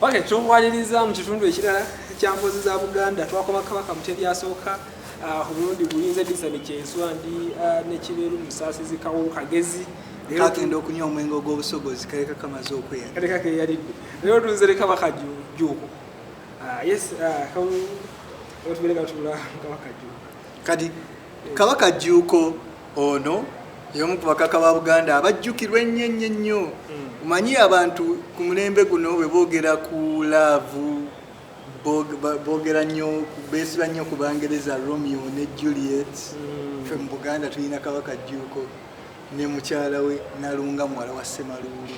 Okay, tuwaliriza mu kitundu ekirala kya mbozi za Buganda twakoma Kabaka Mutebi asooka ah, omulundi uh, gulinze Disani Kyeswa ndi uh, ah, nekibeeru musaasizi kawo kagezi kakenda okunywa omwenge ogw'obusogozi kaleka kamaze okweya kaleka keyalidde leero tunzere Kabaka Jjuuko ah, yes kawo otubeere katula Kabaka Jjuuko kadi Kabaka Jjuuko Ono y'omu ku bakaka ba Buganda abajjukirwa ennyo ennyo ennyo. Omanyi hmm. abantu ku mulembe guno bwe boogera ku laavu boogera nnyo beesiba nnyo ku Bangereza Romeo ne Juliet. Hmm. Ffe mu Buganda tulina Kabaka Jjuuko ne mukyala we Nalunga muwala wa Ssemaluulu.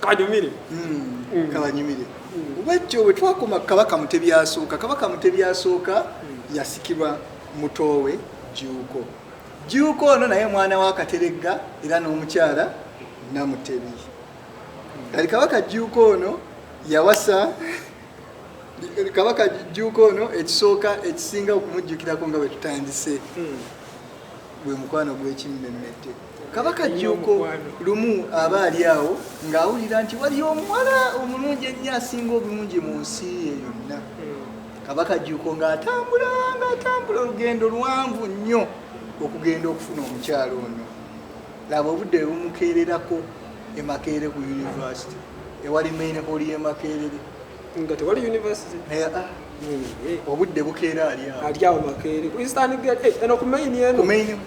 kabanyumire hmm, hmm. kabanyumire hmm. bwekyo bwe twakoma kabaka mutebyasooka kabaka mutebyasooka yasikirwa mutoowe juuko juuko ono naye mwana wa kateregga era n'omukyala namutebi kati kabaka juuko ono yawasa kabaka juuko ono ekisooka ekisinga okumujjukirako nga bwe tutandise bwe mukwano gw'ekimmemmette Kabaka Jjuuko lumu aba ali awo ng'awulira nti wali omuwala omulungi ennyo asinga obulungi mu nsi ye yonna. Kabaka Jjuuko ng'atambula ng'atambula olugendo luwanvu nnyo okugenda okufuna omukyalo ono. Laba obudde bumukeererako e Makerere ku yunivasite ewali main hall y'e Makerere. nga tewali university eh, ah. hmm, eh. obudde bukeera ali awo ali awo makeere ku eastern gate eh, eno ku main eno ku main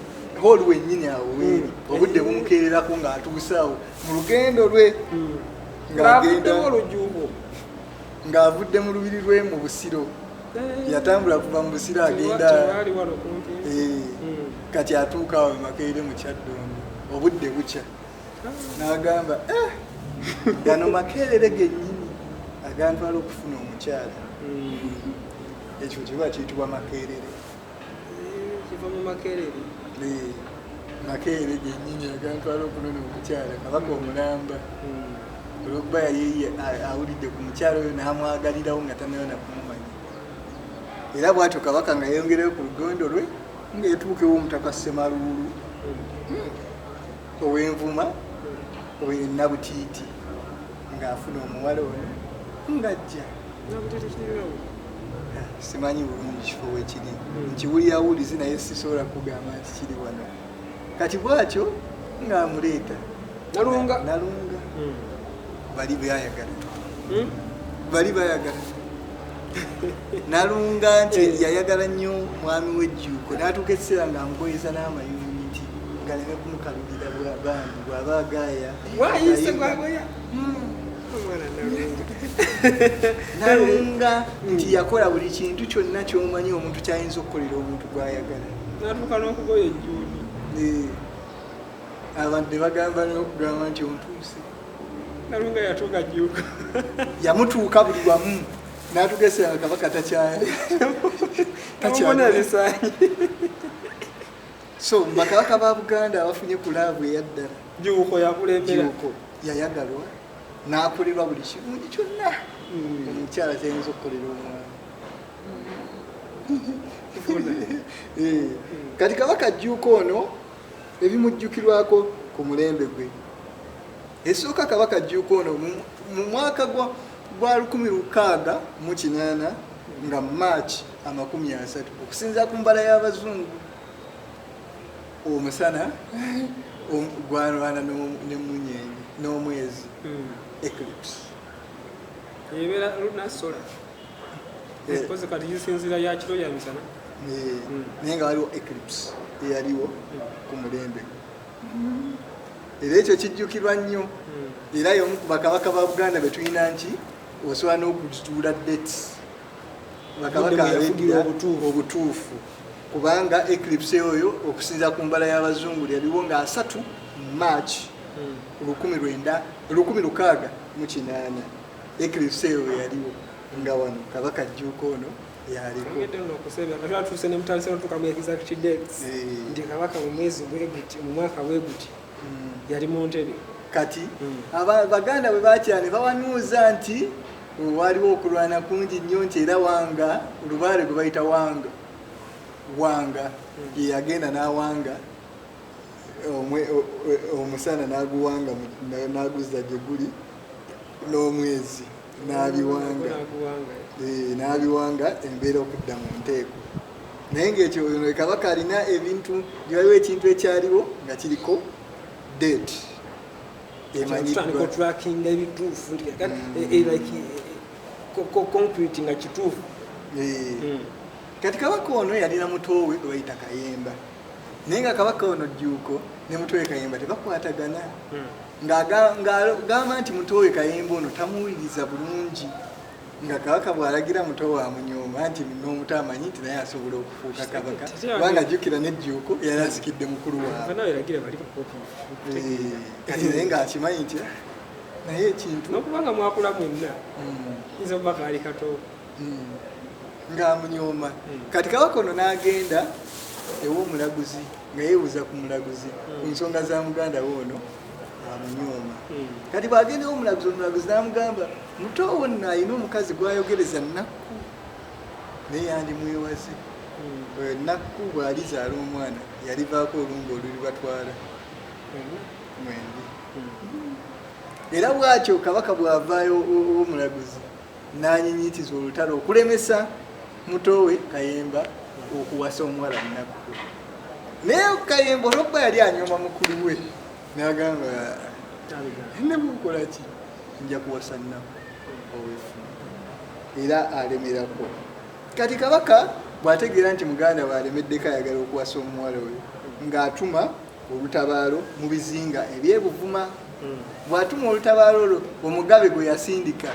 hall wenyini awo hmm. weeri obudde bumukeererako nga atuuse awo mu lugendo lwe hmm. ngaavuddemu olujuubo ng'avudde mu lubiri lwe mu busiro yatambula kuva mu busiro agenda kati atuuka awo makeere mu kyaddondo obudde bukya n'agamba eh, gano makerere gennyini agantwala okufuna omukyala hmm. ekyo kiba kiyitibwa makerere eh, kiva mu makerere eh, makerere gennyini agantwala okunona omukyala kabaka omulamba hmm. olwokuba yaliye awulidde ku mukyala oyo n'amwagalirawo nga tanayona kumumanya era bwatyo kabaka nga yeyongerayo ku lugondo lwe ngaetuukewo omutaka semaluulu hmm. owenvuma oyo nabutiiti ng'afuna omuwala ono ng'ajja simanyi bulungi kifo wekiri nkiwulira wulizi naye sisobola kugamba nti kiri wano kati bwatyo ng'amuleeta nalunga nalunga hmm. bali bayagala hmm? bali bayagala nalunga nti eh. yayagala nnyo mwami wejjuuko natuuka ekiseera nga amugoyeza n'amayuniti ngaleme kumukalubira bwabandi bwaba agaya wayise gwagoya hmm. nalunga hmm. nti yakola buli kintu kyonna kyomanyi omuntu kyayinza okukolera omuntu gwayagala natuuka n'okugoya ejjuuko eh. abantu ne bagamba n'okugamba nti ontuuse nalunga yatuuka juuka yamutuuka buli wamu natugese nga kabaka takyali takyalisanyi so bakabaka ba buganda abafunye ku laavu eyaddala juuko yakulemberako yayagalwa nakolebwa buli kirungi kyonna hmm. omukyala tayinza okukolera omwana eh, kati kabaka juuka ono ebimujjukirwako ku mulembe gwe esooka kabaka jjuuka ono mu mwaka gwa 16 nga march amakumi asatu okusinzira ku mbala y'abazungu omusana gwalwana nemunyenyi n'omwezi hmm. eclipse Eh. Kozi kati zisinzira ya kiro ya misana. Eh. Hmm. Naye nga waliwo eclipse eyaliwo hmm. ku mulembe. Hmm. Era ekyo kijjukirwa nnyo. Era y'omu ku bakabaka ba Buganda be tulina nti osobola n'okuzituula dates. Bakabaka abeddira obutuufu. Kubanga eclipse oyo okusinza ku mbala y'abazungu yaliwo nga asatu March lukumi lwenda lukumi lukaaga mu kinaana. Eclipse eyo bwe yaliwo nga wano kabaka jjuuka ono yalikoatuuse nemutandisa notuka mu exact dates nti kabaka mu mwezi bweguti mu mwaka bweguti hmm. yali mu ntebe kati hmm. baganda bwe bakyala ne bawanuuza nti oh, waliwo okulwana kungi nnyo nti era wanga olubaale gwe bayita wanga wanga hmm. yeyagenda n'awanga omusana n'aguwanga n'aguzza gye guli n'omwezi n'abiwanga eh, n'abiwanga embeera okudda mu nteeko naye ngaekyo kabaka alina ebintu waliwo ekintu ekyaliwo nga kiriko date emanyiddwatrackinga ebituufu mm. eh, eh, like concrete nga kituufu hmm. kati kabaka ono yalina mutowe gwebayita kayemba naye nga kabaka ono jjuuko ne mutoowe kayemba tebakwatagana hmm. ng'agamba nti mutoowe kayemba ono tamuwuliriza bulungi nga kabaka bw'alagira muto wa munyooma nti n'omuto amanyi nti naye asobola okufuuka kabaka kubanga jjukira n'ejjuuko yali asikidde mukulu waabwe kati naye ng'akimanyi nti naye ekintu nokubanga mwakula mwenna hmm. nze oba kaali katoo hmm. ng'amunyooma hmm. kati kabaka ono n'agenda ew'omulaguzi nga yeebuuza ku mulaguzi ku hmm. nsonga za muganda we ono amunyooma kati bw'agenda ew'omulaguzi omulaguzi n'amugamba muto wo nno alina omukazi gw'ayogereza nnakku naye yandimwewaze oyo nnakku bw'alizaala omwana yalivaako olumba olulibatwala mwendi era bwatyo kabaka bw'avaayo omulaguzi n'anyinyiitiza olutalo okulemesa muto we kayemba okuwasa omuwala munaku naye kayemba olwokuba yali anyoma mukulu we nagamba nebukolaki nja kuwasa naku owefu era alemerako kati kabaka bwategeera nti muganda we alemeddeko ayagala okuwasa omuwala oyo ng'atuma olutabaalo mu bizinga eby'e Buvuma. Hmm. Bw'atuma olutabaalo olwo omugabe gwe yasindika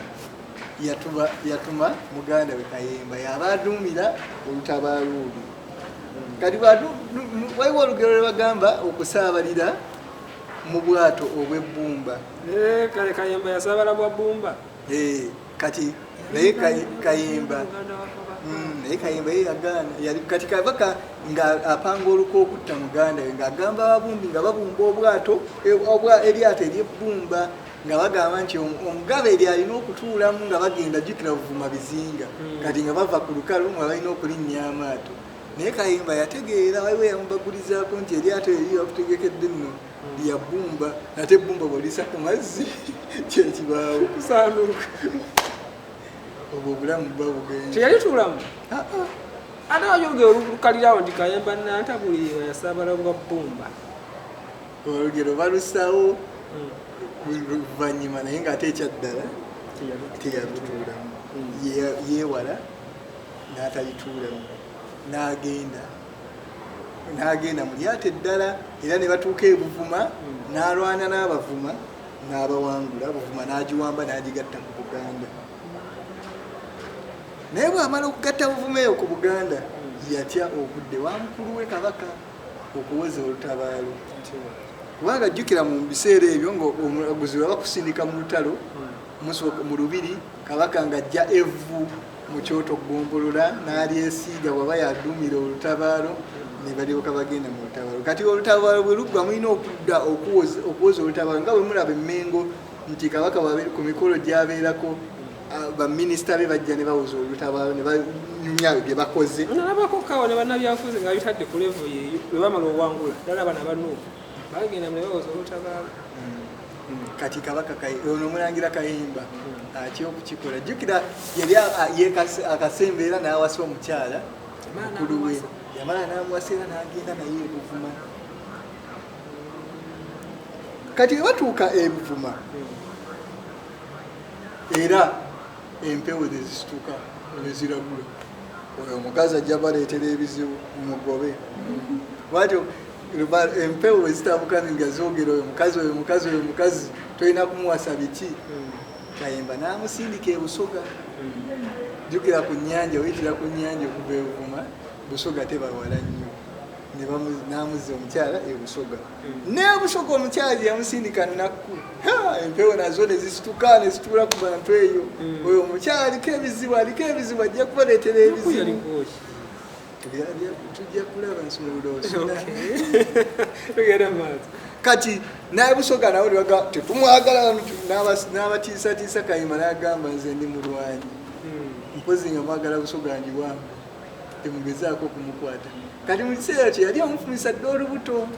yatuma muganda we Kayemba y'aba aduumira olutabaalo olwo. Hmm. Kati waliwo olugero lwe bagamba okusaabalira mu bwato obw'ebbumba. Eh, kale Kayemba yasaabala bwa bbumba. Eh. kati naye kayimba hmm, naye kayimba ye yagaana yali kati kabaka nga apanga oluka okutta muganda we ngaagamba ababumbi nga babumba obwato e, eryato eryebbumba nga bagamba nti omugabe eri alina okutuulamu nga bagenda jukira buvuma bizinga hmm. kati nga bava ku lukalu nga balina okulinnya amaato naye kayimba yategeera waliwo yamubagulizaako nti eryato eri bakutegekedde nno ya bbumba ate bbumba bwolisa ku mazzi kyekibaawo kusanduuka obwo obulamu buba bugenda teyali tulamu ah, ah. ate wayogera olukalirawo nti kayemba nantabuli yasabala bwa bbumba olugero balusawo hmm. luvanyuma naye nga ate ekyaddala teyalituulamu hmm. yewala n'atalituulamu n'agenda n'agenda mu lyato eddala era ne batuuka e Buvuma n'alwana n'Abavuma n'abawangula Buvuma n'agiwamba n'agigatta ku Buganda naye bw'amala okugatta Buvuma eyo ku Buganda yatya okudde wa mukulu we Kabaka okuwoza olutabaalo kubanga jjukira mu biseera ebyo ng'omulaguzi bwe bakusindika mu lutalo hmm. mu lubiri Kabaka ng'ajja evvu mu kyoto ggombolola n'alyesiiga bwaba yaduumira olutabaalo ne balyoka bagenda mu lutabaalo kati olutabaalo bwe luggwa mulina okudda okuwoza olutabaalo nga bwe mulaba emmengo nti kabaka ku mikolo gyabeerako baminisita be bajja ne bawoza olutabaalo ne banyumya ebyo bye bakoze nalabako kawa ne bannabyafuzi nga bitadde ku levo yeeyo bwe bamala owangula ddala bana banuufu bagenda mune bawoza olutabaala kati kabaka ono omulangira kayimba atya okukikola jjukira yali akasemba era n'awasa omukyala mukulu we yamala n'amuwasa era n'agenda naye ebuvuma kati webatuuka ebuvuma era empewo nezisituka neziragula oyo omukazi ajja baleetera ebizibu mugobe bwatyo empewo ezitabuka nga zogera oyo mukazi oyo mukazi oyo mukazi tolina kumuwasa biki hmm. kayemba namusindika ebusoga hmm. jukira ku nyanja oyitira ku nyanja okuva evuma busoga tebawala nnyo namuza omukyala ebusoga hmm. nebusoga omukyala gyeyamusindika nakku empewo nazo nezisituka nezituula ku bantu eyo oyo omukyala aliko ebizibu aliko ebizibu ajja kubaletera ebizibu tujja kulaba nsumululosula tugenda maaso kati naye busoga nawe liwaga tetumwagala n'abatiisatiisa kayima nagamba nze ndi mulwanyi hmm. mpozi nga mwagala busoga ndi wange temugezaako okumukwata kati mu kiseera kye yali amufumisa dde olubuto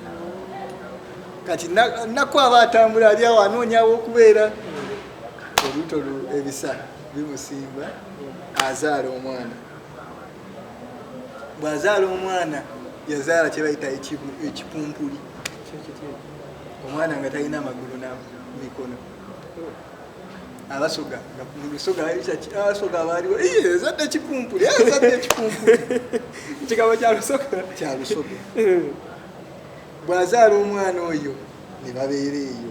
kati nakku aba atambula ali awo anoonyawo okubeera olubuto ebisa bimusimba azaala omwana bwazaala omwana yazaala kyebayita ekipumpuli omwana nga talina amagulu na mikono abasoga musoga abasoga baaliwo ezadde ekipumpuli ezadde ekipumpuli ekigabo kyalusoga kyalusoga bwazaala omwana oyo ne babeera eyo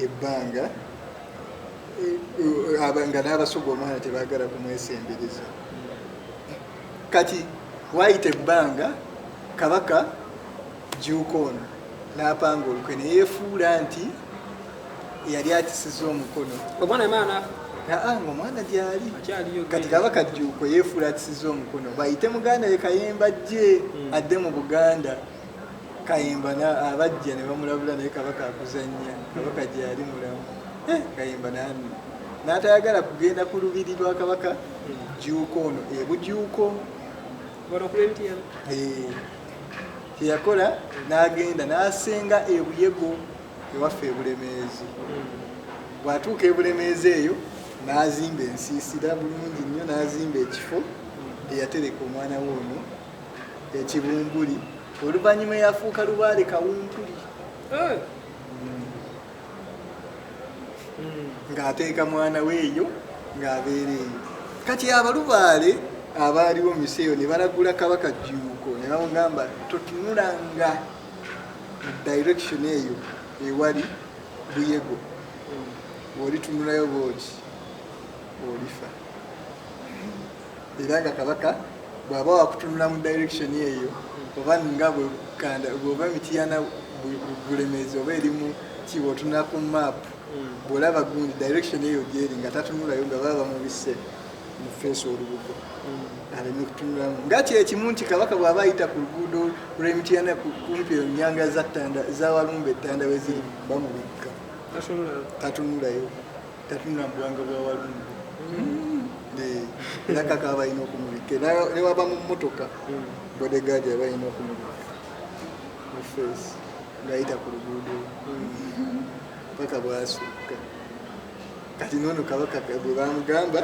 ebbanga nga n'abasuga omwana tebagala kumwesembereza kati wayita ebbanga kabaka juuka ono n'apanga olukwe neyefuula nti yali akisiza omukono omwana emaana aa nga omwana gyali kati kaba kajjuuko yeefuula akisiza omukono bayite muganda ye kayemba jje hmm. adde mu buganda Kayimba na abajja ne bamulabula naye kabaka akuzannya kabaka gye yali mulamu eh, kayimba nani n'atayagala kugenda ku lubiri lwa kabaka jjuuko ono ebujuuko eh, kyeyakola n'agenda n'asenga ebuyego ewaffe ebulemeezi bw'atuuka ebulemeezi eyo n'azimba ensiisira bulungi nnyo n'azimba ekifo eyatereka omwana we ono ekibumbuli oluvannyuma eyafuuka lubaale kawumpuli eh. ng'ateeka mwana we eyo ng'abeera eyo kati abalubaale abaaliwo mu miseeyo ne balagula kabaka jjuuko ne bamugamba totunulanga mu direction eyo ewali buyego bw'olitunulayo bwoki olifa era nga kabaka bw'aba wakutunula mu direction eyo oba nga bwekanda bw'oba emitiyana bulemeezi oba erimu kiba otunula ku map hmm. bw'olaba gundi direction eyo gyeri nga tatunulayo nga baba bamubise mu feesi olubugo hmm. aleme kutunulamu nga kyekimu nti kabaka bw'aba ayita ku luguudo lw'emitiyana kumpi enyanga za walumba ettanda we ziri bamubikka tatunulayo tatunula mu bwanga bwa walungu era kaka aba alina okumubikka ne waba mu mmotoka bodegaadi aba alina okumubikka mu feesi ng'ayita ku luguudo paka bwasukka kati noono kabaka bwe bamugamba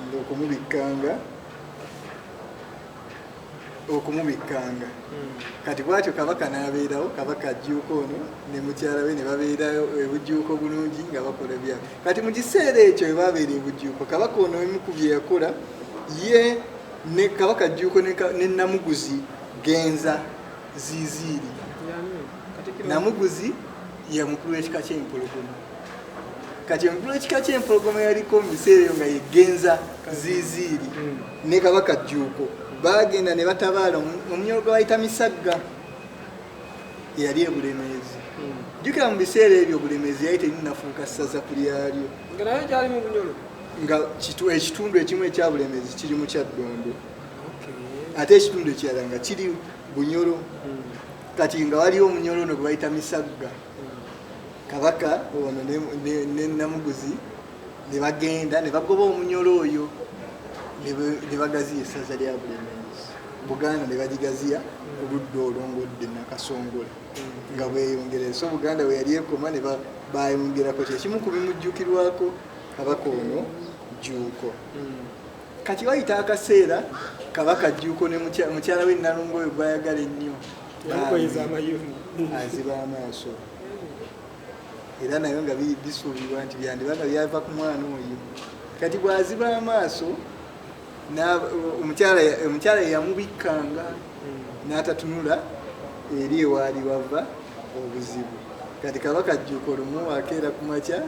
ngaokumubikkanga okumubikkanga kati bwatyo kabaka n'abeerawo kabaka ajjuuka ono ne mukyala we ne babeerayo ebujjuuko bulungi nga bakola bya kati mu kiseera ekyo we babeera ebujjuuko kabaka ono emu ku bye yakola ye ne kabaka ajjuuko ne namuguzi genza ziziiri namuguzi ye mukulu w'ekika ky'empologoma kati omukulu w'ekika ky'empologoma yaliko mu biseera eyo nga yegenza ziziiri ne kabaka jjuuko baagenda ne batabaala omunyolo gwe bayita misagga eyali ebulemeezi hmm. jjukira mu biseera ebyo obulemeezi yali terinafuuka ssaza ku lyalyo nga ekitundu ekimu ekyabulemeezi kiri mu kyaddondo ate ekitundu ekirala nga kiri bunyolo hmm. kati nga waliwo omunyolo ono gwe bayita misagga hmm. kabaka ono ne namuguzi ne bagenda ne bagoba omunyolo oyo ne bagaziya essaza lya bulemenzi buganda ne bagigaziya ku ludda olungodde nakasongola nga bweyongera so buganda bwe yali ekoma ne bayongerako kyekimu ku bimujjukirwako kabaka ono jjuuko kati wayita akaseera kabaka jjuuko ne mukyala we nalongo oyo gwayagala ennyo aziba amaaso era nayo nga bisuubirwa nti byandiba nga byava ku mwana oyo kati bwaziba amaaso omukyala yeyamubikkanga n'atatunula eri ewaali wava obuzibu kati kabaka jjuuko lumu akeera ku makya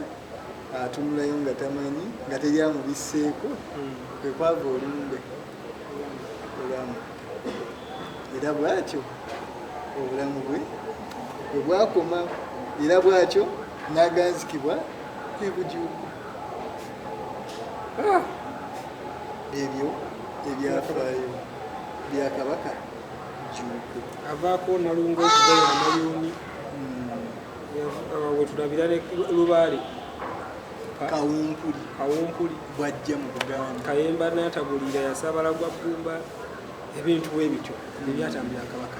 atunulayo nga tamanyi nga teri amubisseeko kwekwava olumbe obulamu era bwatyo obulamu bwe bwe bwakoma era bwatyo n'aganzikibwa kwe kujuuka ah! ebyo ebyafaayo bya kabaka juuku avaako nalunga okugoya amayuuni hmm. wetulabira lubaale kawumpuli bwajja mu buganda kayemba natagulira yasabala gwa bbumba ebintu bwebityo ebyatambira kabaka